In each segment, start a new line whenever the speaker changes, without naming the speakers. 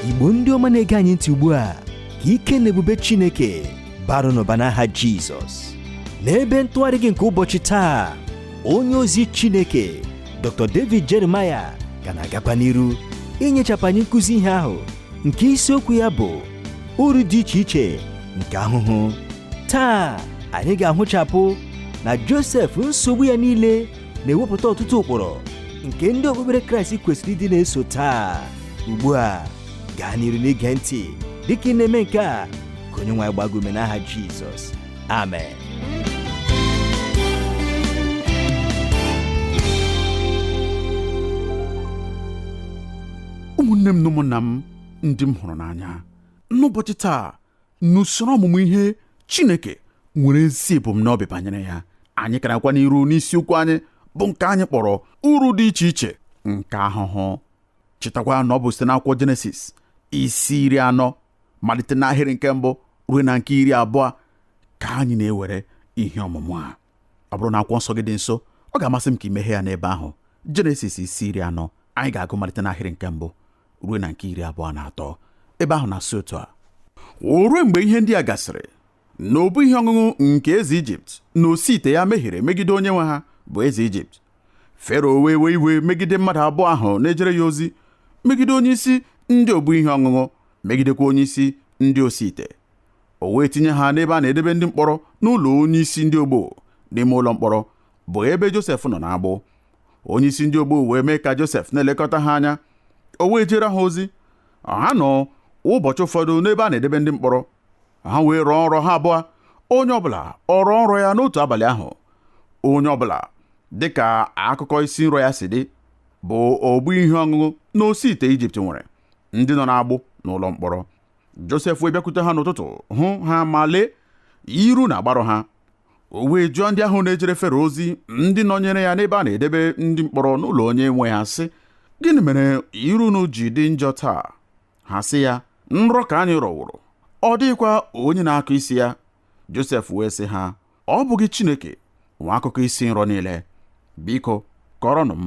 igbo ndị ọma na-ege anyị ntị ugbu a ka ike na ebube chineke baara unu ụba n'aha jizọs n'ebe ntụgharị gị nke ụbọchị taa onye ozi chineke dr david jeremiah ka na-agakwa n'iru inyechapụ anyị nkụzi ihe ahụ nke isiokwu ya bụ uru dị iche iche nke ahụhụ taa anyị ga-ahụchapụ na josef nsogbu ya niile na-ewepụta ọtụtụ ụkpụrụ nke ndị okpukpere kraịst kwesịrị ịdị na-eso taa ugbu a gaa n'iru n'ige ntị dịka ị na-eme nke a ka onye nwe anyị gbaa gị ume n'aha jizọs amen
ụmụnne m na ụmụnna m ndị m hụrụ n'anya n'ụbọchị taa n'usoro ọmụmụ ihe Chineke nwere ezi ebumnobi banyere ya anyị ka na-agakwa n'iru n'isiokwu anyị bụ nke anyị kpọrọ uru dị iche iche nke ahụhụ chetakwa na ọ bụ site n'akwụkwọ Jenesis isi iri anọ malite n'ahịrị nke mbụ ruo na nke iri abụọ ka anyị na-ewere ihe ọmụmụ a ọ bụrụ na akwụkwọ nsọ gị dị nso ọ ga-amasị m ka i meghee ya n'ebe ahụ jenesis isi iri anọ anyị ga-agụ malite n'ahịrị nke mbụ ruo na nke iri abụọ na atọ ebe ahụ na-asị otu a o ruo mgbe ihe ndị a gasịrị na obu ihe ọṅụṅụ nke eze ijipt na osi ite ya mehiere megide onye nwe ha bụ eze ijipt fero wee wee iwe megide mmadụ abụọ ahụ na-ejere ya ozi megide onye isi ndị obu ihe ọṅụṅụ megidekwa onye isi ndị osi ite o wee tinye ha n'ebe a na-edebe ndị mkpọrọ n'ụlọ onye isi ndị ogbo n'ime ụlọ mkpọrọ bụ ebe Josef nọ n'agbụ onye isi ndị ogbo wee mee ka Josef na-elekọta ha anya o wee jeere ha ozi ha nọ ụbọchị ụfọdụ n'ebe a na-edebe ndị mkpọrọ ha wee rọọ nrọ ha abụọ onye ọbụla ọ rọọ nrọ ya n'otu abalị ahụ onye ọbụla dịka akụkọ isi nrọ ya si dị bụ obu ihe ọṅụṅụ na osi ite Ijipt nwere ndị nọ n'agbụ n'ụlọ mkpọrọ Josef wee bịakwute ha n'ụtụtụ hụ ha ma lee iru na-agbarụ ha o wee jụọ ndị ahụ na-ejere fero ozi ndị nọnyere ya n'ebe a na-edebe ndị mkpọrọ n'ụlọ onye nwe ha sị gịnị mere iru unu ji dị njọ taa ha sị ya nrọ ka anyị rọworo ọ dịghịkwa onye na-akọ isi ya Josef wee sị ha ọ bụghị Chineke nwe akụkọ isi nrọ niile biko kọrọnụ m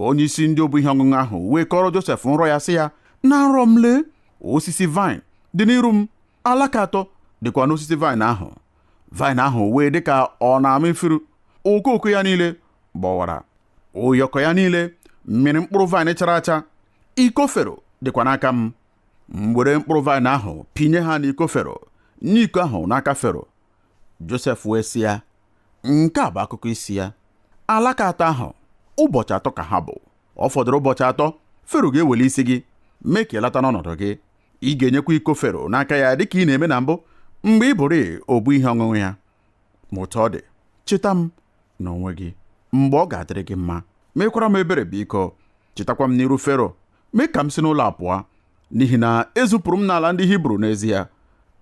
onye isi ndị obu ihe ọṅụṅụ ahụ wee kọrọ Josef nrọ ya sị ya na nrọ m lee osisi vine dị n'iru m alaka atọ dịkwa n'osisi vine ahụ vine ahụ wee dị ka ọ na-ama ifuru okooko ya niile gbọwara ụyọkọ ya niile mịrị mkpụrụ vine chara acha iko fero dịkwa n'aka m m were mkpụrụ vine ahụ pịnye ha n'iko fero nye iko ahụ n'aka fero josef wee sị ya nke a bụ akụkọ isi ya alaka atọ ahụ ụbọchị atọ ka ha bụ ọ fọdụrụ ụbọchị atọ fero ga-eweli isi gị mee ka ị lata n'ọnọdụ gị ị ga-enyekwa iko fero n'aka ya dịka ị na-eme na mbụ mgbe ị bụrụ obu ihe ọṅụṅụ ya ma otu ọ dị cheta m n'onwe gị mgbe ọ ga-adịrị gị mma mekwara m ebere biko chetakwa m n'iru fero mee ka m si n'ụlọ a pụọ n'ihi na ezupụrụ m n'ala ndị hibru n'ezie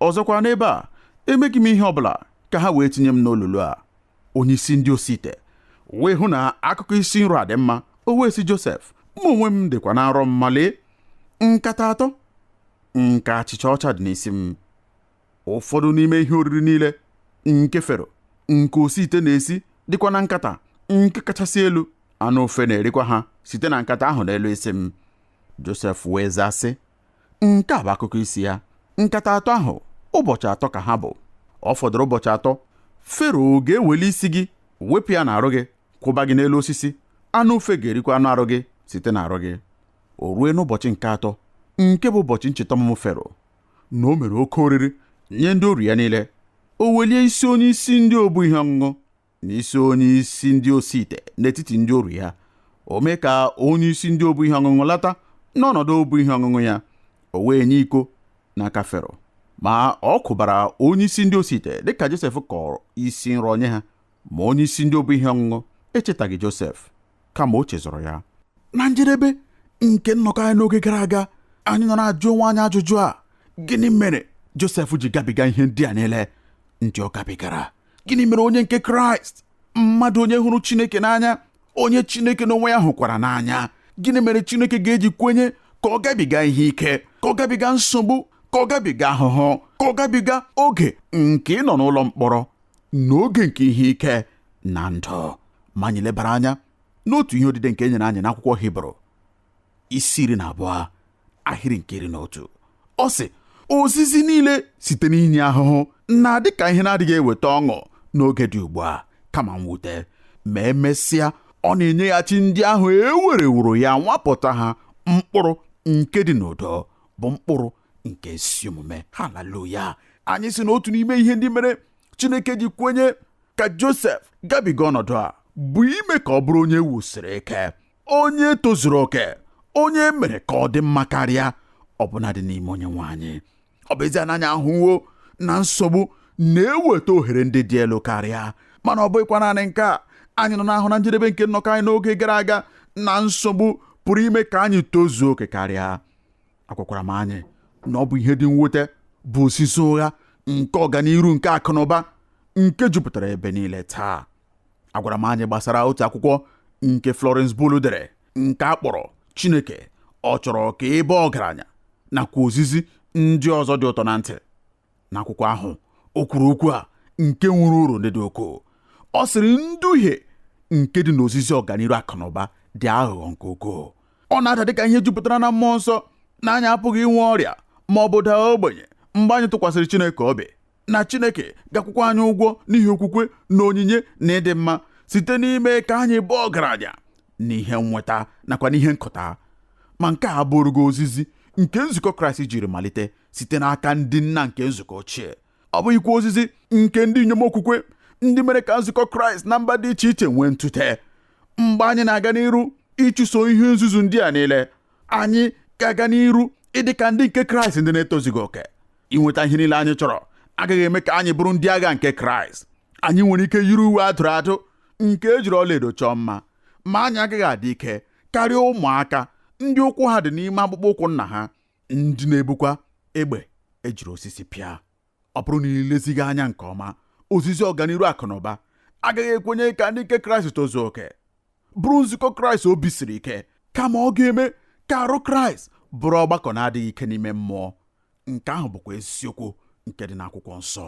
ọzọkwa n'ebe a emeghị m ihe ọ bụla ka ha wee tinye m n'olulu a onye isi ndị osi ite wee hụ na akụkọ isi nrọ a dị mma o wee sị josef mụ onwe m dịkwa na nrọ m ma lee nkata atọ nke achịcha ọcha dị n'isi m ụfọdụ n'ime ihe oriri niile nke fero nke osi ite na-esi dịkwa na nkata nke kachasị elu anụ ufe na-erikwa ha site na nkata ahụ n'elu isi m Josef wee zaa sị nke a bụ akụkọ isi ya nkata atọ ahụ ụbọchị atọ ka ha bụ ọ fọdụrụ ụbọchị atọ fero ga-eweli isi gị wepụ ya n'arụ gị kwụba gị n'elu osisi anụ ufe ga-erikwa anụ arụ gị site n'arụ gị o rue n'ụbọchị nke atọ nke bụ ụbọchị ncheta ọmụmụ fero na o mere oke oriri nye ndị oru ya niile o welie isi onye isi ndị obu ihe ọṅụṅụ na isi onye isi ndị osi ite n'etiti ndị oru ya o mee ka onye isi ndị obu ihe ọṅụṅụ lata n'ọnọdụ obu ihe ọṅụṅụ ya o wee nye iko n'aka fero ma ọ kwụbara onye isi ndị osi ite dịka josef kọrọ isi nrọ nye ha ma onye isi ndị obu ihe ọṅụṅụ echetaghị josef kama o chezọrọ ya na njedebe nke nnọkọ anyị n'oge gara aga anyị nọ na-ajụ onwe anyị ajụjụ a gịnị mere Josef ji gabiga ihe ndị a niile ndị ọ gabigara gịnị mere onye nke Kraịst mmadụ onye hụrụ Chineke n'anya onye Chineke n'onwe ya hụkwara n'anya gịnị mere Chineke ga-eji kwenye ka ọ gabiga ihe ike ka ọ gabiga nsogbu ka ọ gabiga ahụhụ ka ọ gabiga oge nke ịnọ n'ụlọ mkpọrọ n'oge nke ihe ike na ndụ ma anyị lebara anya n'otu ihe odide nke e nyere anyị n'akwụkwọ hibru isi iri na abụọ ahịrị nke iri na otu ọ sị ozizi niile site n'inye ahụhụ na-adị ka ihe na-adịghị eweta ọṅụ n'oge dị ugbu a kama mwute ma emesịa ọ na-enyeghachi ndị ahụ e wereworo ya nwapụta ha mkpụrụ nke dị n'udo bụ mkpụrụ nke ezi omume haleluya anyị sị na otu n'ime ihe ndị mere chineke ji kwenye ka josef gabiga ọnọdụ a bụ ime ka ọ bụrụ onye wusiri ike onye tozuru oke onye e mere ka ọ dị mma karịa ọbụnadị n'ime onye nwe anyị ọ bụ ezie na anyị ahụwo na nsogbu na-eweta ohere ndị dị elu karịa mana ọ bụghịkwa naanị nke a anyị nọ na-ahụ na njedebe nke nnọkọ anyị n'oge gara aga na nsogbu pụrụ ime ka anyị tozuo oke karịa agwakwara m anyị na ọ bụ ihe dị mwute bụ ozizi ụgha nke ọganiru nke akụnụba nke jupụtara ebe niile taa agwara m anyị gbasara otu akwụkwọ nke Florence Bulle dere nke a kpọrọ Chineke ọ chọrọ ka ị baa ọgaranya nakwa ozizi ndị ọzọ dị ụtọ na ntị n'akwụkwọ ahụ o kwuru okwu a nke nwere uru ndị dị ukwuu ọ sịrị nduhie nke dị n'ozizi ọganiru akụnụba dị aghụghọ nke ukwuu ọ na-ada dịka ihe jupụtara na mmụọ nsọ na anyị apụghị inwe ọrịa ma ọ bụ daa ogbenye mgbe anyị tụkwasịrị Chineke obi na Chineke ga-akwụkwa anyị ụgwọ n'ihi okwukwe na onyinye na ịdị mma site n'ime ka anyị bụ ọgaranya n'ihe nnweta nakwa n'ihe nkụta ma nke a abụghị ozizi nke nzukọ Kraịst jiri malite site n'aka ndị nna nke nzukọ ochie ọ bụghịkwa ozizi nke ndị inyom okwukwe ndị mere ka nzukọ kraịst na mba dị iche iche nwee ntụte mgbe anyị na-aga n'iru ịchụso ihe nzuzu ndị a niile anyị ga-aga n'iru ịdị ka ndị nke kraịst ndị na-etozughị oke inweta ihe niile anyị chọrọ agaghị eme ka anyị bụrụ ndị agha nke kraịst anyị nwere ike yiri uwe a dụrụ adụ nke e jiri ọlaedo chọọ mma ma anyị agaghị adị ike karịa ụmụaka ndị ụkwụ ha dị n'ime akpụkpọ ụkwụ nna ha ndị na-ebukwa egbe e jiri osisi pịa ọ bụrụ na i lezighị anya nke ọma ozizi ọganiru akụnụba agaghị ekwenye ka ndị nke kraịst tozuo oke bụrụ nzukọ kraịst obi siri ike kama ọ ga-eme ka arụ kraịst bụrụ ọgbakọ na-adịghị ike n'ime mmụọ nke ahụ bụkwa eziokwu nke dị n'akwụkwọ nsọ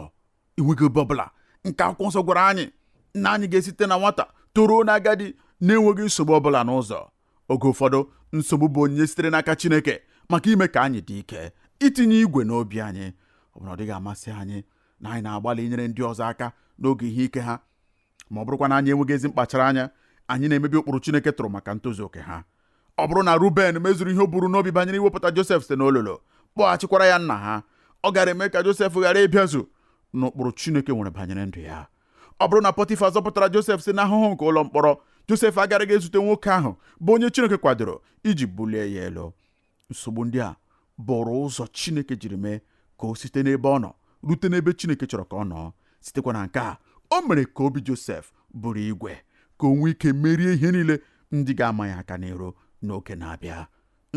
enweghị ebe ọbụla nke akwụkwọ nsọ gwara anyị na anyị ga-esite na nwata toruo na agadi na-enweghị nsogbu ọbụla n'ụzọ oge ụfọdụ nsogbu bụ onyinye sitere n'aka Chineke maka ime ka anyị dị ike itinye igwe n'obi anyị ọ bụrụ na ọ dịghị amasị anyị na anyị na-agbalị inyere ndị ọzọ aka n'oge ihe ike ha ma ọ bụrụkwa na anyị enweghị ezi mkpachara anya anyị na-emebi ụkpụrụ Chineke tụrụ maka ntozu oke ha ọ bụrụ na Ruben mezuru ihe o buru n'obi banyere iwepụta Josef site n'olulu kpọghachikwara ya nna ha ọ gaara eme ka Josef ghara ịbịazu n'ụkpụrụ Chineke nwere banyere ndụ ya ọ bụrụ na Pọtifa zọpụtara Josef si n'ahụhụ nke ụlọ mkpọrọ Josef agaraghị ezute nwoke ahụ bụ onye Chineke kwadoro iji bulie ya elu nsogbu ndị a bụrụ ụzọ Chineke jiri mee ka o site n'ebe ọ nọ rute n'ebe Chineke chọrọ ka ọ nọọ sitekwa na nke a o mere ka obi Josef bụrụ igwe ka o nwee ike merie ihe niile ndị ga-ama ya aka n'iru n'oge na-abịa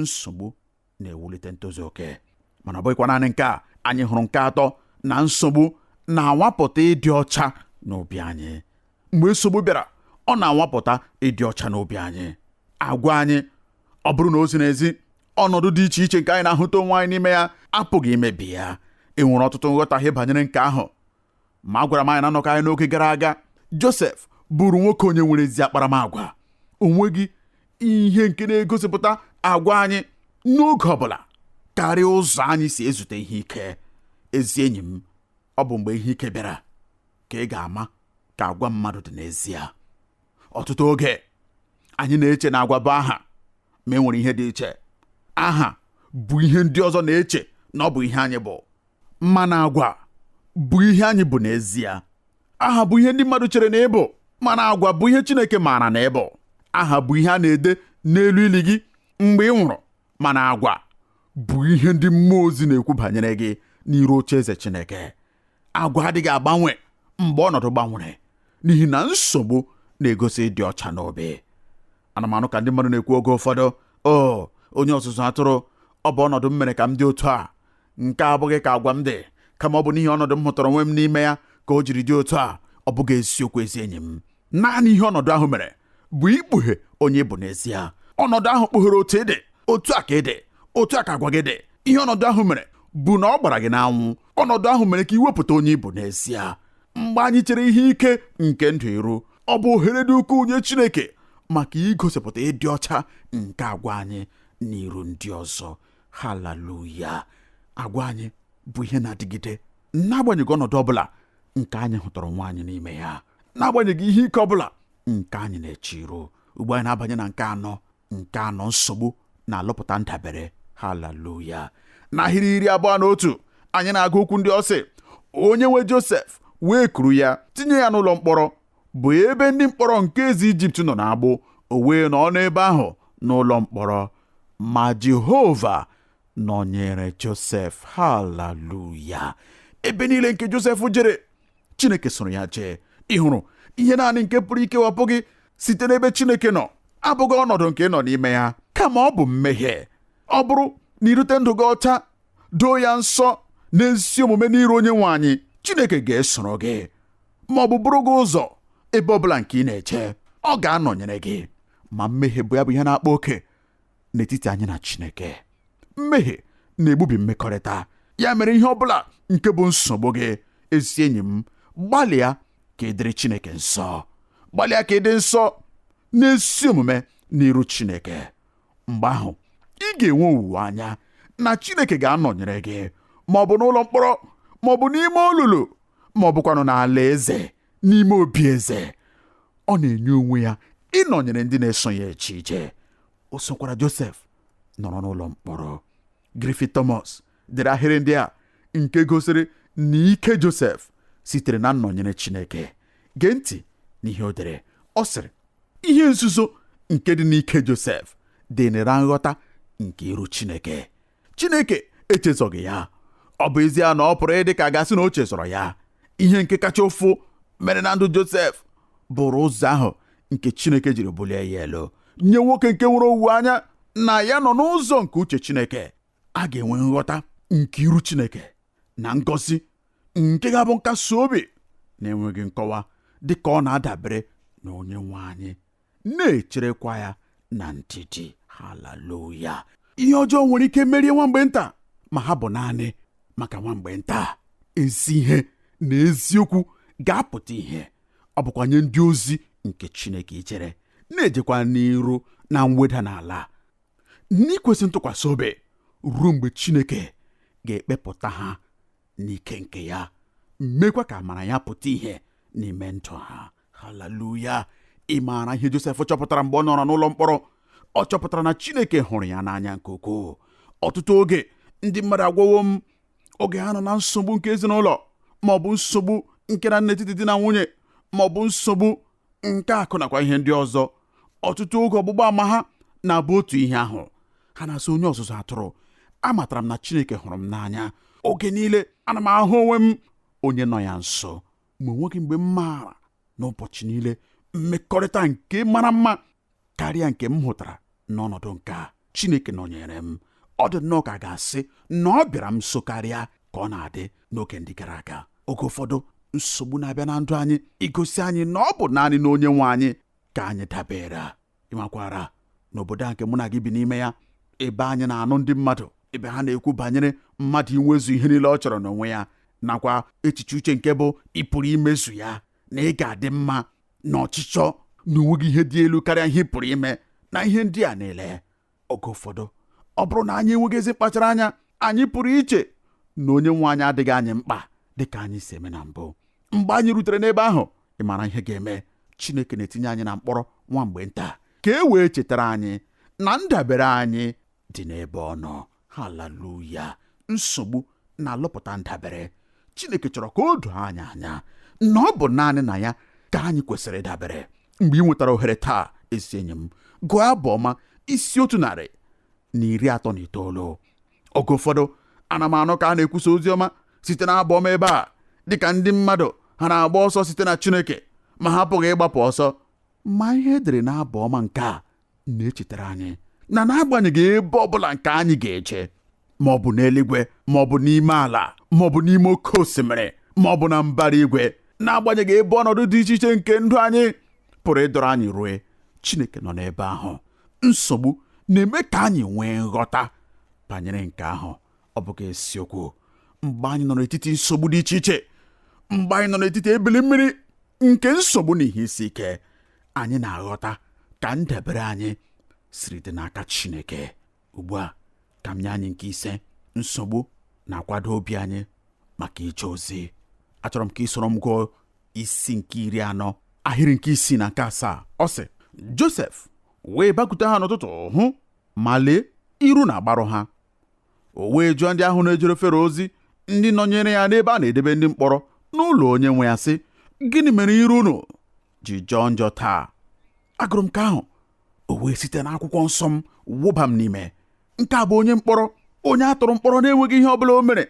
nsogbu na-ewulite ntozu oke mana ọ bụghịkwa naanị nke a anyị hụrụ nke atọ na nsogbu na-anwapụta ịdị ọcha n'obi anyị mgbe nsogbu bịara ọ na-anwapụta ịdị ọcha n'obi anyị agwa anyị ọ bụrụ na o ziri ezi ọnọdụ dị iche iche nke anyị na-ahụta onwe anyị n'ime ya apụghị imebi ya e nwere ọtụtụ nghọtahie banyere nke ahụ ma agwara m anyị na nnọkọ anyị n'oge gara aga Josef bụrụ nwoke onye nwere ezi akparamagwa o nweghị ihe nke na-egosipụta agwa anyị n'oge ọbụla karịa ụzọ anyị si ezute ihe ike ezi enyi m ọ bụ mgbe ihe ike bịara ka ị ga-ama ka agwa mmadụ dị n'ezie ọtụtụ oge anyị na-eche na agwa bụ aha ma e nwere ihe dị iche aha bụ ihe ndị ọzọ na-eche na ọ bụ ihe anyị bụ mana agwa bụ ihe anyị bụ n'ezie aha bụ ihe ndị mmadụ chere na ị bụ mana agwa bụ ihe Chineke maara na ị bụ aha bụ ihe a na-ede n'elu ili gị mgbe ị nwụrụ mana agwa bụ ihe ndị mmụọ ozi na-ekwu banyere gị n'iru oche eze Chineke agwa adịghị agbanwe mgbe ọnọdụ gbanwere n'ihi na nsogbu na-egosi ịdị ọcha n'obi ana m anụ ka ndị mmadụ na-ekwu oge ụfọdụ o oh, onye ọzụzụ atụrụ ọ bụ ọnọdụ m mere ka m dị otu a nke a abụghị ka agwa m dị kama ọ bụ n'ihi ọnọdụ m hụtara onwe m n'ime ya ka o jiri dị otu a ọ bụghị eziokwu ezi enyi m naanị ihe ọnọdụ ahụ mere bụ ikpughe onye ị bụ n'ezie ọnọdụ ahụ kpughere otu ị dị otu a ka ị dị otu a ka agwa gị dị ihe ọnọdụ ahụ mere bụ na ọ gbara gị n'anwụ ọnọdụ ahụ mere ka i wepụta onye ị bụ n'ezie mgbe anyị chere ihe ike nke ndụ iru ọ bụ ohere dị ukwuu nye Chineke maka igosipụta ịdị ọcha nke agwa anyị n'iru ndị ọzọ haleluya agwa anyị bụ ihe na-adịgide n'agbanyeghị ọnọdụ ọ bụla nke anyị hụtara onwe anyị n'ime ya n'agbanyeghị ihe ike ọbụla nke anyị na-eche iru ugbu a anyị na-abanye na nke anọ nke anọ nsogbu na-alụpụta ndabere haleluya n'ahịrị iri abụọ na otu anyị na-agụ okwu ndị a ọ sị onye nwe josef wee kuru ya tinye ya n'ụlọ mkpọrọ bụ ebe ndị mkpọrọ nke eze ijipt nọ n'agbụ o wee nọ n'ebe ahụ n'ụlọ mkpọrọ ma jehova nọnyere josef haleluya ebe niile nke josef jere Chineke soro ya jee ị hụrụ ihe naanị nke pụrụ ikewapụ gị site n'ebe Chineke nọ abụghị ọnọdụ nke ị nọ n'ime ya kama ọ bụ mmehie ọ bụrụ na i dote ndụ gị ọcha doo ya nsọ n'ezi omume n'iru onye nwe anyị Chineke ga-esoro gị ma ọ bụ buru gị ụzọ ebe ọ bụla nke ị na-eje ọ ga-anọnyere gị ma mmehie bụ ya bụ ihe na-akpa oke n'etiti anyị na Chineke mmehie na-egbubi mmekọrịta ya mere ihe ọ bụla nke bụ nsogbu gị ezi enyi m gbalịa ka ị dịrị Chineke nsọ gbalịa ka ị dị nsọ n'ezi omume n'iru Chineke mgbe ahụ ị ga-enwe owuwe anya na Chineke ga-anọnyere gị ma ọ bụ n'ụlọ mkpọrọ ma ọ bụ n'ime olulu ma ọ bụkwanụ n'ala eze n'ime obi eze ọ na-enye onwe ya ịnọnyere ndị na-eso ya eje ije o sokwara Josef nọrọ n'ụlọ mkpọrọ Griffith Thomas dere ahịrị ndị a nke gosiri na ike Josef sitere na nnọnyere Chineke gee ntị n'ihe o dere ọ sịrị ihe nzuzo nke dị n'ike Josef dị na nghọta nke iru Chineke Chineke echezọghị ya ọ bụ ezie na ọ pụrụ ịdị ka a ga-asị na o chezọrọ ya ihe nke kacha ụfụ mere na ndụ Josef bụrụ ụzọ ahụ nke Chineke jiri bulie ya elu nye nwoke nke nwere owuwe anya na ya nọ n'ụzọ nke uche Chineke a ga-enwe nghọta nke iru Chineke na ngọzi nke ga-abụ nkasi obi na-enweghị nkọwa dị ka ọ na-adabere na onye nwe anyị na-echerekwa ya na ndidi haleluya ihe ọjọọ nwere ike merie nwa mgbe nta ma ha bụ naanị maka nwa mgbe nta ezi ihe na eziokwu ga-apụta ihe ọ bụkwa nye ndị ozi nke Chineke ichere na-ejekwa n'iru na mweda n'ala n'ikwesị ntụkwasị obi ruo mgbe Chineke ga-ekpepụta ha n'ike nke ya mekwa ka amara ya pụta ihe n'ime ndụ ha haleluya ị maara ihe josef chọpụtara mgbe ọ nọrọ n'ụlọ mkpọrọ ọ chọpụtara na chineke hụrụ ya n'anya nke ukwuu ọtụtụ oge ndị mmadụ agwawo m oge ha nọ na nsogbu nke ezinụlọ ma ọ bụ nsogbu nke na n'etiti di na nwunye ma ọ bụ nsogbu nke akụ nakwa ihe ndị ọzọ ọtụtụ oge ọgbụgba ama ha na-abụ otu ihe ahụ ha na-asị onye ọzụzụ atụrụ amatara m na chineke hụrụ m n'anya oge niile ana m ahụ onwe m onye nọ ya nso ma o nweghị mgbe m maara n'ụbọchị niile mmekọrịta nke mara mma karịa nke m hụtara n'ọnọdụ nke a Chineke nọnyere m ọ dị nnọọ ka a ga-asị na ọ bịara m nso karịa ka ọ na-adị n'oge ndị gara aga oge ụfọdụ nsogbu na-abịa na ndụ anyị igosi anyị na ọ bụ naanị na onye nwe anyị ka anyị dabere ị makwara n'obodo a nke mụ na gị bi n'ime ya ebe anyị na-anụ ndị mmadụ ebe ha na-ekwu banyere mmadụ inwezu ihe niile ọ chọrọ n'onwe ya nakwa echiche uche nke bụ ị pụrụ imezu ya na ị ga-adị mma na ọchịchọ na o nweghị ihe dị elu karịa ihe ị pụrụ ime na ihe ndị a niile oge ụfọdụ ọ bụrụ na anyị enweghị ezi mkpachara anya anyị pụrụ iche na onye nwe anyị adịghị anyị mkpa dị ka anyị si eme na mbụ mgbe anyị rutere n'ebe ahụ ị mara ihe ga-eme Chineke na-etinye anyị na mkpọrọ nwa mgbe nta ka e wee chetara anyị na ndabere anyị dị n'ebe ọ nọ haleluya nsogbu na-alụpụta ndabere Chineke chọrọ ka o doo anyị anya na ọ bụ naanị na ya ka anyị kwesịrị ịdabere mgbe i nwetara ohere taa ezi enyi m gụọ abụ ọma isi otu narị na iri atọ na itoolu oge ụfọdụ ana m anụ ka a na-ekwusa ozi ọma site na abụ ọma ebe a dịka ndị mmadụ ha na-agba ọsọ site na Chineke ma ha apụghị ịgbapụ ọsọ ma ihe e dere n'abụ ọma nke a na-echetara anyị na n'agbanyeghị ebe ọ bụla nke anyị ga-eje ma ọ bụ n'eluigwe ma ọ bụ n'ime ala ma ọ bụ n'ime oke osimiri ma ọ bụ na mbara igwe n'agbanyeghị ebe ọnọdụ dị iche iche nke ndụ anyị pụrụ ịdọrọ anyị rue Chineke nọ n'ebe ahụ nsogbu na-eme ka anyị nwee nghọta banyere nke ahụ ọ bụghị eziokwu mgbe anyị nọ n'etiti nsogbu dị iche iche mgbe anyị nọ n'etiti ebili mmiri nke nsogbu na ihe isi ike anyị na-aghọta ka ndabere anyị siri dị n'aka Chineke ugbu a ka m nye anyị nke ise nsogbu na-akwado obi anyị maka ije ozi achọrọ m ka i soro m gụọ isi nke iri anọ ahịrị nke isii na nke asaa ọ sị Josef wee bakute ha n'ụtụtụ hụ ma lee iru na-agbarụ ha o wee jụọ ndị ahụ na-ejere Fero ozi ndị nọnyere ya n'ebe a na-edebe ndị mkpọrọ n'ụlọ onye nwe ya sị gịnị mere iru unu ji jọọ njọ taa agụrụ m nke ahụ o wee site n'akwụkwọ nsọ m wụba m n'ime nke a bụ onye mkpọrọ onye a tụrụ mkpọrọ na-enweghị ihe ọ bụla o mere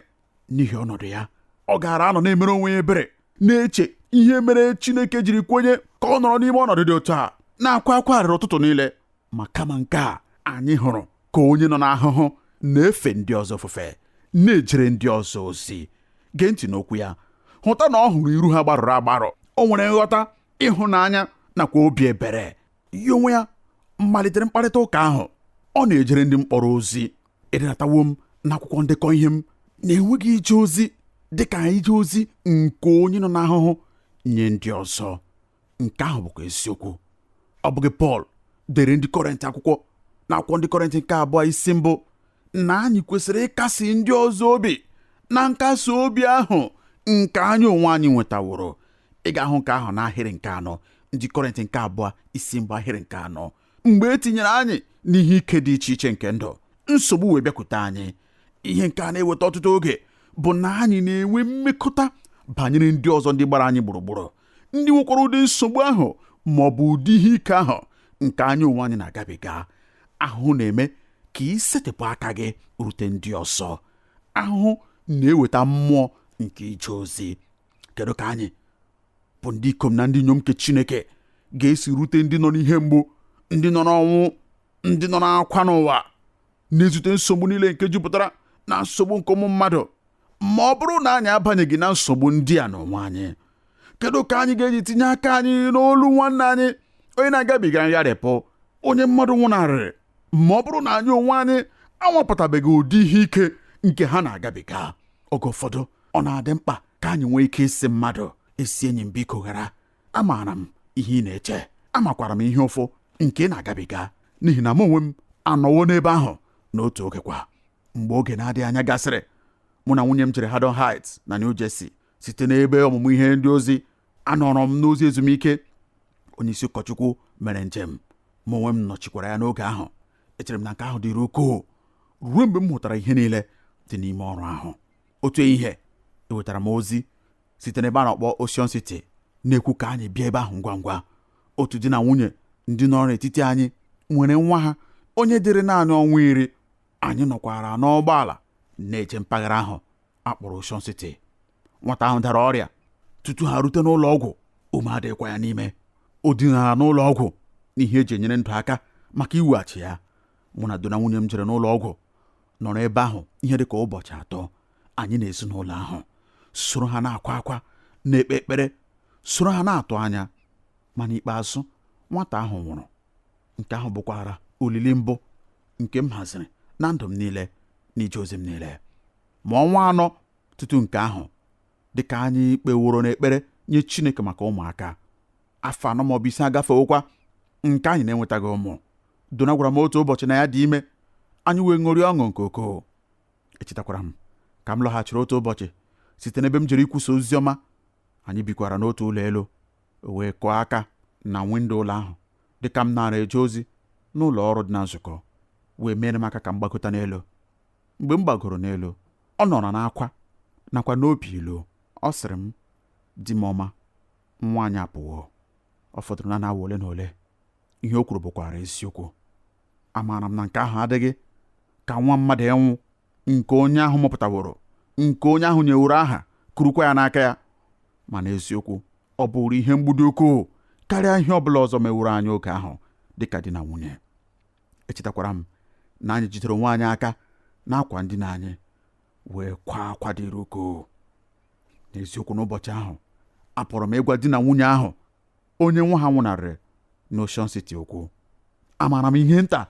n'ihi ọnọdụ ya ọ gaara anọ na-emere onwe ya ebere na-eche ihe mere Chineke jiri kwenye ka ọ nọrọ n'ime ọnọdụ dị otu a na-akwa akwa arịrị ụtụtụ niile ma kama nke a anyị hụrụ ka onye nọ n'ahụhụ na-efe ndị ọzọ ofufe na-ejere ndị ọzọ ozi gee ntị n'okwu ya hụta na ọ hụrụ iru ha gbarụrụ agbarụ o nwere nghọta ịhụnanya nakwa obi ebere ya onwe ya malitere mkparịta ụka ahụ ọ na-ejere ndị mkpọrọ ozi edetawo m n'akwụkwọ ndekọ ihe m na enweghị ije ozi dị ka ije ozi nke onye nọ n'ahụhụ nye ndị ọzọ nke ahụ bụkwa eziokwu ọ bụghị Pọl dere ndị Kọrint akwụkwọ n'akwụkwọ ndị Kọrint nke abụọ isi mbụ na anyị kwesịrị ịkasi ndị ọzọ obi na nkasi obi ahụ nke anyị onwe anyị nwetaworo ị ga-ahụ nke ahụ n'ahịrị nke anọ ndị Kọrint nke abụọ isi mbụ ahịrị nke anọ mgbe e tinyere anyị n'ihe ike dị iche iche nke ndụ nsogbu wee bịakwute anyị ihe nke a na-eweta ọtụtụ oge bụ na anyị na-enwe mmekọta banyere ndị ọzọ ndị gbara anyị gburugburu ndị nwekwara ụdị nsogbu ahụ ma ọ bụ ụdị ihe ike ahụ nke anyị onwe anyị na-agabiga ahụhụ na-eme ka i setịpụ aka gị rute ndị ọzọ ahụhụ na-eweta mmụọ nke ije ozi kedu ka anyị bụ ndị ikom na ndị inyom nke Chineke ga-esi rute ndị nọ n'ihe mgbu ndị nọ n'ọnwụ ndị nọ n'akwa n'ụwa na-ezute nsogbu niile nke jupụtara na nsogbu nke ụmụ mmadụ ma ọ bụrụ na anyị abanyeghị na nsogbu ndị a n'onwe anyị kedu ka anyị ga-eji tinye aka anyị n'olu nwanne anyị onye na-agabiga ngharịpụ onye mmadụ nwụnarịrị ma ọ bụrụ na anyị onwe anyị anwapụtabeghị ụdị ihe ike nke ha na-agabiga oge ụfọdụ ọ na-adị mkpa ka anyị nwee ike ịsị mmadụ ezi enyi m biko ghara amaara m ihe ị na-eche amakwara m ihe ụfụ nke ị na-agabiga n'ihi na m onwe m anọwo n'ebe ahụ n'otu oge kwa mgbe oge na-adịghị anya gasịrị mụ na nwunye m jere Haddon Heights na New Jersey site n'ebe ọmụmụ ihe ndị ozi anọrọ m n'ozi ezumike onye isi ụkọchukwu mere njem mụ onwe m nọchikwara ya n'oge ahụ echere m na nke ahụ dịrị ukwuu ruo mgbe m hụtara ihe niile dị n'ime ọrụ ahụ otu ehihie ewetara m ozi site n'ebe a na-akpọ Ocean City na-ekwu ka anyị bịa ebe ahụ ngwa ngwa otu di na nwunye ndị nọrọ n'etiti anyị nwere nwa ha onye dịrị naanị ọnwa iri anyị nọkwara n'ụgbọala na-eje mpaghara ahụ akpọrọ Ocean City nwata ahụ dara ọrịa tutu ha rute n'ụlọ ọgwụ ume adịghịkwa ya n'ime o dinara n'ụlọ ọgwụ n'ihe eji enyere ndụ aka maka iweghachi ya mụ na Dona nwunye m jere n'ụlọ ọgwụ nọrọ ebe ahụ ihe dị ka ụbọchị atọ anyị na ezinụlọ ahụ soro ha na-akwa akwa na-ekpe ekpere soro ha na-atụ anya ma n'ikpeazụ nwata ahụ nwụrụ nke ahụ bụkwara olili mbụ nke m haziri na ndụ m niile n'ije ozi m niile ma ọnwa anọ tutu nke ahụ dịka anyị kpeworo n'ekpere nye Chineke maka ụmụaka afọ anọ maọbụ ise agafewokwa nke anyị na-enwetaghị ụmụ Dona gwara m otu ụbọchị na ya dị ime anyị wee ṅụrịa ọṅụ nke ukwuu echetakwara m ka m lọghachiri otu ụbọchị site n'ebe m jere ikwusa ozi ọma anyị bikwara n'otu ụlọ elu o wee kụọ aka na windo ụlọ ahụ dịka m naara eje ozi n'ụlọ ọrụ dị na nzukọ wee mere m aka ka m gbagota n'elu mgbe m gbagoro n'elu ọ nọrọ n'akwa nakwa n'obi ilu ọ sịrị m di m ọma nwa anyị apụwo ọ fọdụrụ naanị awa ole na ole ihe o kwuru bụkwara eziokwu amaara m na nke ahụ adịghị ka nwa mmadụ ịnwụ nke onye ahụ mụpụtaworo nke onye ahụ nyeworo aha kurukwa ya n'aka ya ma n'eziokwu ọ bụrụ ihe mgbu dị ukwuu karịa ihe ọ bụla ọzọ meworo anyị oge ahụ dịka di na nwunye echetakwara m na anyị jidere onwe anyị aka n'akwa ndina anyị wee kwa akwa dịrị ukwuu n'eziokwu n'ụbọchị ahụ apụrụ m ịgwa di na nwunye ahụ onye nwa ha nwụnarịrị n'Ocean City okwu amaara m ihe nta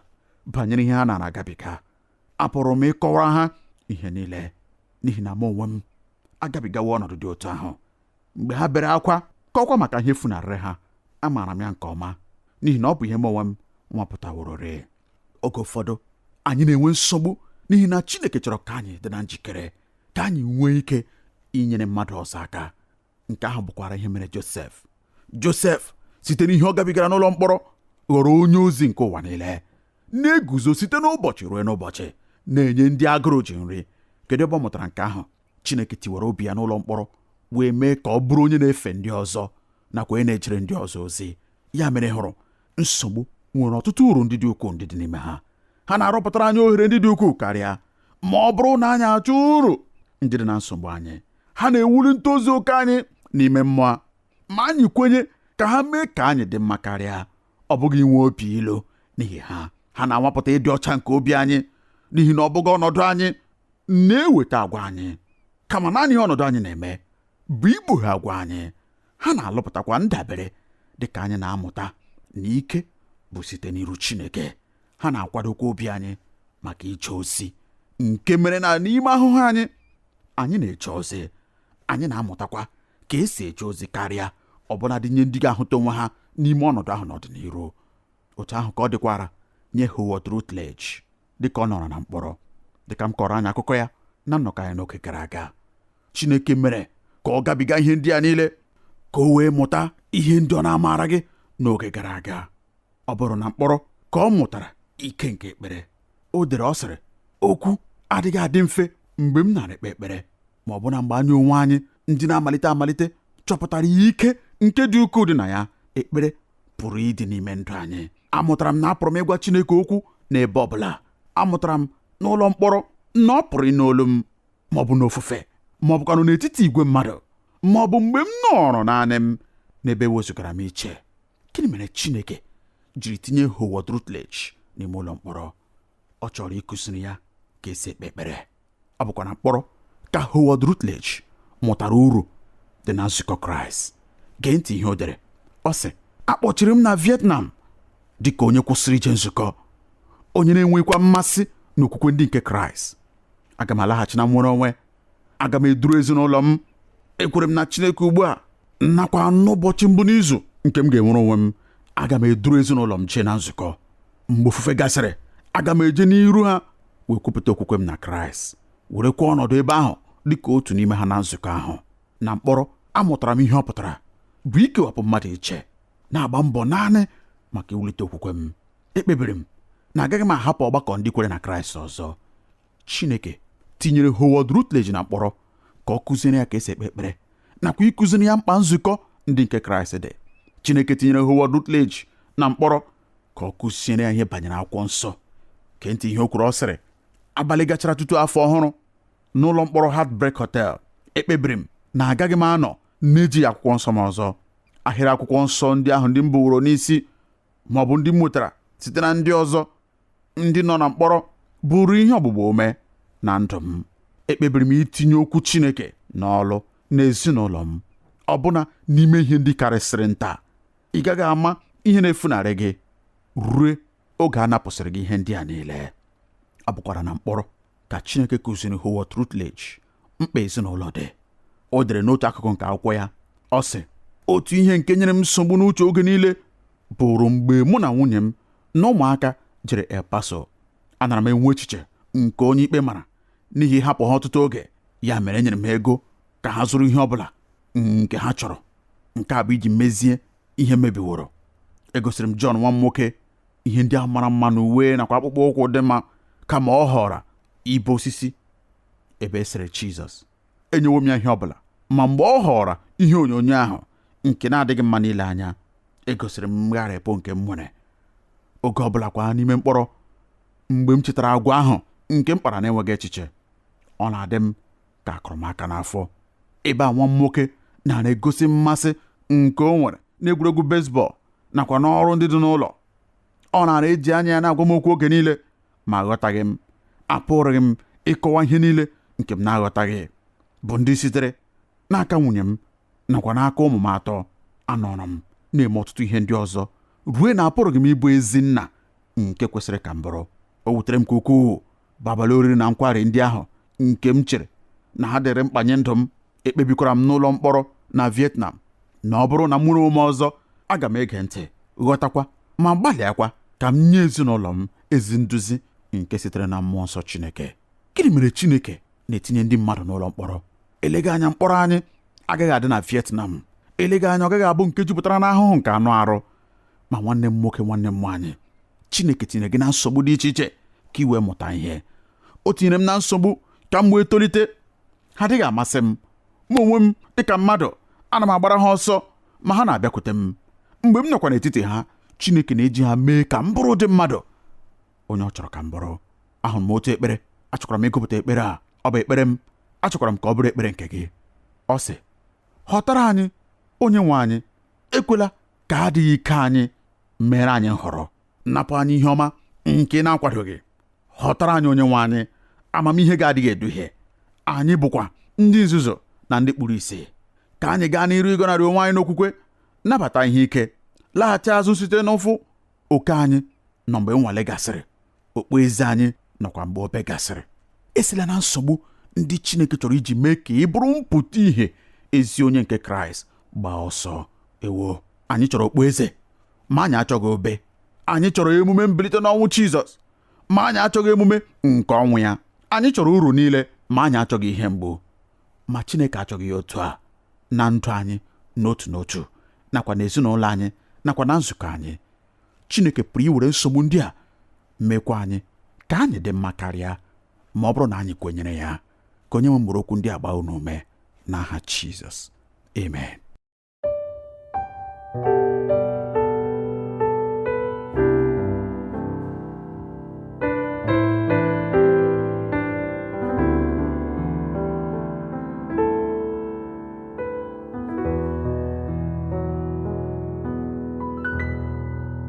banyere ihe ha nara agabiga apụrụ m ịkọwara ha ihe niile n'ihi na mụ onwe m agabigawo ọnọdụ dị otu ahụ mgbe ha bere akwa kọọkwa maka ihe funarịrị ha amaara m ya nke ọma n'ihi na ọ bụ ihe mụ onwe m nwapụtawororị oge ụfọdụ anyị na-enwe nsogbu n'ihi na Chineke chọrọ ka anyị dị na njikere ka anyị nwee ike inyere mmadụ ọzọ aka nke ahụ bụkwara ihe mere Josef Josef site n'ihe ọ gabigara n'ụlọ mkpọrọ ghọrọ onye ozi nke ụwa niile na-eguzo site n'ụbọchị ruo n'ụbọchị na-enye ndị agụrụ ji nri kedu ebe ọ mụtara nke ahụ Chineke tiwara obi ya n'ụlọ mkpọrọ wee mee ka ọ bụrụ onye na-efe ndị ọzọ nakwa onye na-ejere ndị ọzọ ozi ya mere ị hụrụ nsogbu nwere ọtụtụ uru ndị dị ukwuu ndị dị n'ime ha ha na-arụpụtara anyị ohere ndị dị ukwuu karịa ma ọ bụrụ na anyị achọọ uru ndị dị na nsogbu anyị ha na-ewuli ntozu oke anyị n'ime mmụọ ma anyị kwenye ka ha mee ka anyị dị mma karịa ọ bụghị inwe obi ilu n'ihi ha ha na-anwapụta ịdị ọcha nke obi anyị n'ihi na ọ bụghị ọnọdụ anyị na-eweta agwa anyị kama naanị ihe ọnọdụ anyị na-eme bụ ikpughe agwa anyị ha na-alụpụtakwa ndabere dị ka anyị na-amụta na ike bụ site n'iru Chineke ha na-akwadokwa obi anyị maka ije ozi nke mere na n'ime ahụhụ anyị anyị na-eje ozi anyị na-amụtakwa ka esi eje ozi karịa ọbụnadị nye ndị ga-ahụta onwe ha n'ime ọnọdụ ahụ n'ọdịniru otu ahụ ka ọ dịkwara nye Howard Rutledge dịka ọ nọrọ na mkpọrọ dịka m kọọrọ anyị akụkọ ya na nnọkọ anyị n'oge gara aga Chineke mere ka ọ gabiga ihe ndị a niile ka o wee mụta ihe ndị ọ na-amaraghị n'oge gara aga ọ bụrụ na mkpọrọ ka ọ mụtara ike nke ekpere o dere ọ sịrị okwu adịghị adị mfe mgbe m na-ekpe ekpere ma ọbụna mgbe anyị onwe anyị ndị na-amalite amalite chọpụtara ya ike nke dị ukwuu dị na ya ekpere pụrụ ịdị n'ime ndụ anyị amụtara m na apụrụ m ịgwa Chineke okwu n'ebe ọ bụla amụtara m n'ụlọ mkpọrọ na ọ pụrụ ịnụ olu m ma ọ bụ n'ofufe ma ọ bụkwanụ n'etiti igwe mmadụ ma ọ bụ mgbe m nọrọ naanị m n'ebe wezụgara m iche gịnị mere Chineke jiri tinye Howard Rutledge n'ime ụlọ mkpọrọ ọ chọrọ ịkụziri ya ka esi ekpe ekpere ọ bụkwa na mkpọrọ ka Howard Rutledge mụtara uru dị na nzukọ Kraịst gee ntị ihe o dere ọ sị akpọchiri m na Vietnam dị ka onye kwụsịrị ije nzukọ onye na-enweghịkwa mmasị n'okwukwe ndị nke Kraịst aga m alaghachi na nnwere onwe aga m eduru ezinụlọ m ekwere m na Chineke ugbu a nakwa n'ụbọchị mbụ n'izu nke m ga-enwere onwe m aga m eduru ezinụlọ m jee na nzukọ mgbe ofufe gasịrị aga m eje n'iru ha wee kwupụta okwukwe m na Kraịst werekwa ọnọdụ ebe ahụ dị ka otu n'ime ha na nzukọ ahụ na mkpọrọ amụtara m ihe ọ pụtara bụ ikewapụ mmadụ iche na-agba mbọ naanị maka iwulite okwukwe m ekpebiri m na agaghị m ahapụ ọgbakọ ndị kwere na Kraịst ọzọ Chineke tinyere Howard Rutledge na mkpọrọ ka ọ kụziere ya ka e si ekpe ekpere nakwa ịkụziri ya mkpa nzukọ ndị nke Kraịst dị Chineke tinyere Howard Rutledge na mkpọrọ ka ọ kụziere ya ihe banyere akwụkwọ nsọ gee ntị ihe o kwuru ọ sịrị abalị gachara tutu afọ ọhụrụ n'ụlọ mkpọrọ Heartbreak Hotel ekpebiri m na agaghị m anọ na-ejighị akwụkwọ nsọ m ọzọ ahịrị akwụkwọ nsọ ndị ahụ ndị m buworo n'isi ma ọ bụ ndị m nwetara site na ndị ọzọ ndị nọ na mkpọrọ bụrụ ihe ọgbụgba ume na ndụ m ekpebiri m itinye okwu Chineke n'ọlụ n'ezinụlọ m ọbụna n'ime ihe ndị karịsịrị nta ị gaghị ama ihe na-efunarị gị rue oge a napụsịrị gị ihe ndị a niile ọ bụkwara na mkpọrọ ka Chineke kụziri Howard Rutledge mkpa ezinụlọ dị o dere n'otu akụkụ nke akwụkwọ ya ọ sị otu ihe nke nyere m nsogbu n'uche oge niile bụrụ mgbe mụ na nwunye m na ụmụaka jere El Paso anara m enwe echiche nke onye ikpe mara n'ihi ịhapụ ha ọtụtụ oge ya mere enyere m ha ego ka ha zụrụ ihe ọ bụla nke ha chọrọ nke a bụ iji mezie ihe mebiworo egosiri m John nwa m nwoke ihe ndị a mara mma na uwe nakwa akpụkpọ ụkwụ dị mma kama ọ họọrọ ibe osisi ebe e sere Jizọs enyewo m ya ihe ọ bụla ma mgbe ọ họọrọ ihe onyonyo ahụ nke na-adịghị mma n'ile anya egosiri m mgharịpụ nke m nwere oge ọ bụla kwa n'ime mkpọrọ mgbe m chetara agwa ahụ nke m kpara na-enweghị echiche ọ na-adị m ka a kụrụ m aka n'afọ ebe a nwa m nwoke nara egosi mmasị nke o nwere n'egwuregwu bezbọl nakwa n'ọrụ ndị dị n'ụlọ ọ nara eji anya ya na-agwa m okwu oge niile ma aghọtaghị m apụrụghị m ịkọwa ihe niile nke m na-aghọtaghị bụ ndị sitere n'aka nwunye m nakwa n'aka ụmụ m atọ anọrọ m na-eme ọtụtụ ihe ndị ọzọ rue na apụrụghị m ịbụ ezi nna nke kwesịrị ka m bụrụ o wutere m nke ukwuu bụ abalị oriri na nkwari ndị ahụ nke m chere na ha dịrị mkpa nye ndụ m ekpebikwara m n'ụlọ mkpọrọ na Vietnam na ọ bụrụ na m nwere onwe m ọzọ aga m ege ntị ghọtakwa ma gbalịakwa ka m nye ezinụlọ m ezi nduzi nke sitere na mmụọ nsọ Chineke gịnị mere Chineke na-etinye ndị mmadụ n'ụlọ mkpọrọ eleghị anya mkpọrọ anyị agaghị adị na Vietnam eleghị anya ọ gaghị abụ nke jupụtara n'ahụhụ nke anụ arụ ma nwanne m nwoke nwanne m nwaanyị chineke tinyere gị na nsogbu dị iche iche ka ị wee mụta ihe o tinyere m na nsogbu ka m wee tolite ha adịghị amasị m mụ onwe m dịka mmadụ ana m agbara ha ọsọ ma ha na-abịakwute m mgbe m nọkwa n'etiti ha chineke na-eji ha mee ka m bụrụ ụdị mmadụ onye ọ chọrọ ka m bụrụ ahụrụ m otu ekpere achọkwara m ịgụpụta ekpere a ọ bụ ekpere m achọkwara m ka ọ bụrụ ekpere nke gị ọ sị họtara anyị onye nwe anyị ekwela ka adịghị ike anyị meere anyị nhọrọ napụ anyị ihe ọma nke ị na-akwadoghị họtara anyị onye nwe anyị amamihe gị adịghị eduhie anyị bụkwa ndị nzuzu na ndị kpuru isi ka anyị gaa n'iru ịgọnarị onwe anyị n'okwukwe nabata ihe ike laghachi azụ site n'ụfụ oke anyị nọ mgbe nnwale gasịrị okpueze anyị nọkwa mgbe obe gasịrị esila na nsogbu ndị Chineke chọrọ iji mee ka ị bụrụ mpụta ìhè ezi onye nke Kraịst gbaa ọsọ ewo anyị chọrọ okpueze ma anyị achọghị obe anyị chọrọ emume mbilite n'ọnwụ Jizọs ma anyị achọghị emume nke ọnwụ ya anyị chọrọ uru niile ma anyị achọghị ihe mgbu ma Chineke achọghị ya otu a na ndụ anyị n'otu n'otu nakwa n'ezinụlọ anyị nakwa na nzukọ anyị Chineke pụrụ iwere nsogbu ndị a mekwa anyị ka anyị dị mma karịa ma ọ bụrụ na anyị kwenyere ya ka onye nwe m were okwu ndị a gbaa unu ume n'aha Jizọs amen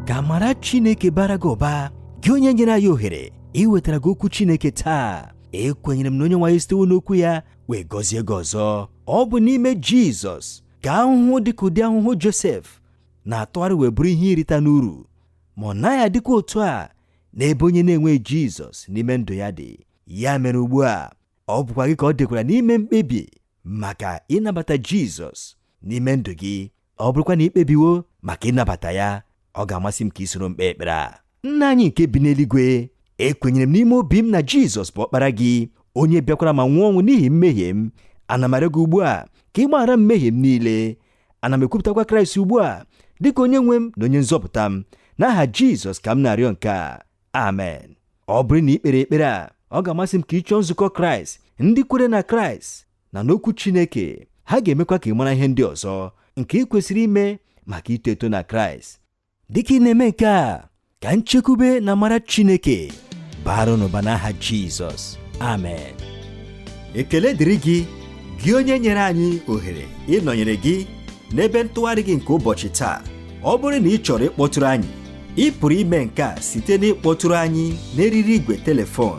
ka amara chineke baara gị ụba gị onye nyere anyị ohere iwetara gị okwu chineke taa ekwenyere m na onye nwe anyị sitewo n'okwu ya wee gọzie gị ọzọ ọ bụ n'ime jizọs ka ahụhụ dị ka ụdị ahụhụ Josef na-atụgharị wee bụrụ ihe irita n'uru ma ọ naghị adịkwa otu a n'ebe onye na-enweghị Jizọs n'ime ndụ ya dị ya mere ugbu a ọ bụkwa gị ka ọ dịkwara n'ime mkpebi maka ịnabata Jizọs n'ime ndụ gị ọ bụrụkwa na i kpebiwo maka ịnabata ya ọ ga-amasị m ka ị soro m kpee ekpere a nna anyị nke bi n'eluigwe ekwenyere m n'ime obi m na jizọs bụ ọkpara gị onye bịakwara ma nwụọ ọnwụ n'ihi mmehie m ana m arịọ gị ugbu a ka ị gbaghara m mmehie m niile ana m ekwupụtakwa kraịst ugbu a dịka onye nwe m na onye nzọpụta m n'aha jizọs ka m na-arịọ nke a amen ọ bụrụ na ị kpere ekpere a ọ ga-amasị m ka ị chọọ nzukọ kraịst ndị kwere na kraịst na n'okwu Chineke ha ga-emekwa ka ị mara ihe ndị ọzọ nke ị kwesịrị ime maka ito eto na Kraịst dịka ị na-eme nke a ka nchekwube na amara Chineke bara n'ụba n'aha Jizọs amen ekele dịrị gị gị onye nyere anyị ohere ịnọnyere gị n'ebe ntụgharị gị nke ụbọchị taa ọ bụrụ na ị chọrọ ịkpọtụrụ anyị ị pụrụ ime nke a site n'ịkpọtụrụ anyị n'eriri igwe telefon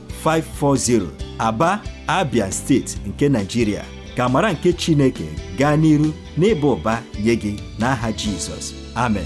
540 Aba Abia steeti nke Nigeria ka amara nke Chineke gaa n'iru n'ịba ụba nye gị n'aha Jizọs amen